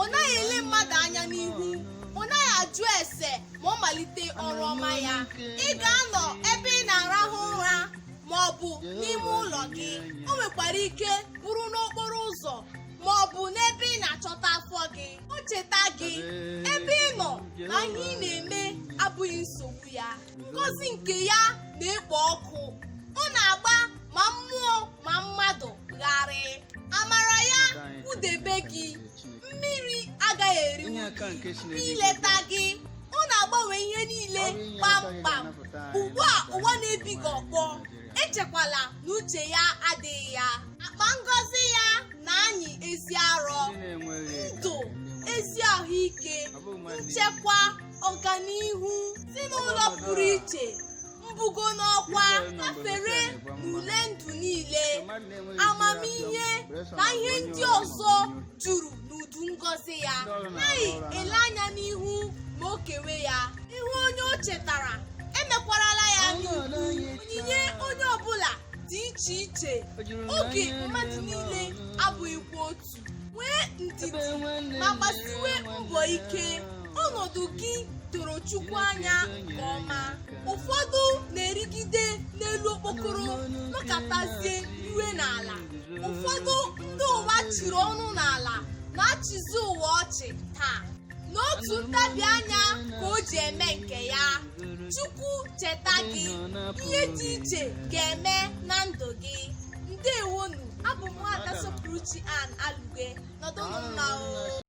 ọ naghị ele mmadụ anya n'ihu ọ naghị ajụ ese ma ọ malite ọrụ ọma ya ị ga-anọ ebe ị na-arahụ ụra ma ọ bụ n'ime ụlọ gị o nwekwara ike bụrụ n'okporo ụzọ ma ọ bụ n'ebe ị na-achọta afọ gị o cheta gị ebe ị nọ na ihe ị na-eme abụghị nsogbu ya ngọzi nke ya na-ekpo ọkụ ma mmadụ gharịị amara ya kwudebe gị mmiri agaghị eri gị o leta gị ọ na-agbanwe ihe niile kpamkpam ugbu a ụwa na-ebi gị ọkpọ echekwala na uche ya adịghị ya akpa ngọzi ya na-anyị ezi arọ ndụ ezi ahụike nchekwa ọganihu ezinụlọ pụrụ iche mbugo n'ọkwa gafere n'ule ndụ niile amamihe na ihe ndị ọzọ juru n'udu ngọzi ya anaghị ele anya n'ihu ma o kewe ya ị hụ onye o chetara emekwarala ya anyaukwu onyinye onye ọbụla dị iche iche oge mmadụ niile abụghịkwa otu nwee ndidi ma gbasiwe mbọ ike ọnọdụ gị doro chukwu anya nke ọma ụfọdụ na-erigide n'elu okpokoro nọkatazie riwe n'ala ụfọdụ ndị ụwa chiri ọnụ n'ala na-achịzi ụwa ọchị taa n'otu ntabi anya ka o ji eme nke ya chukwu cheta gị ihe dị iche ga-eme na ndụ gị ndewonu abụ m nwada sọpụrụchi an alugwe nọdụnụ mma o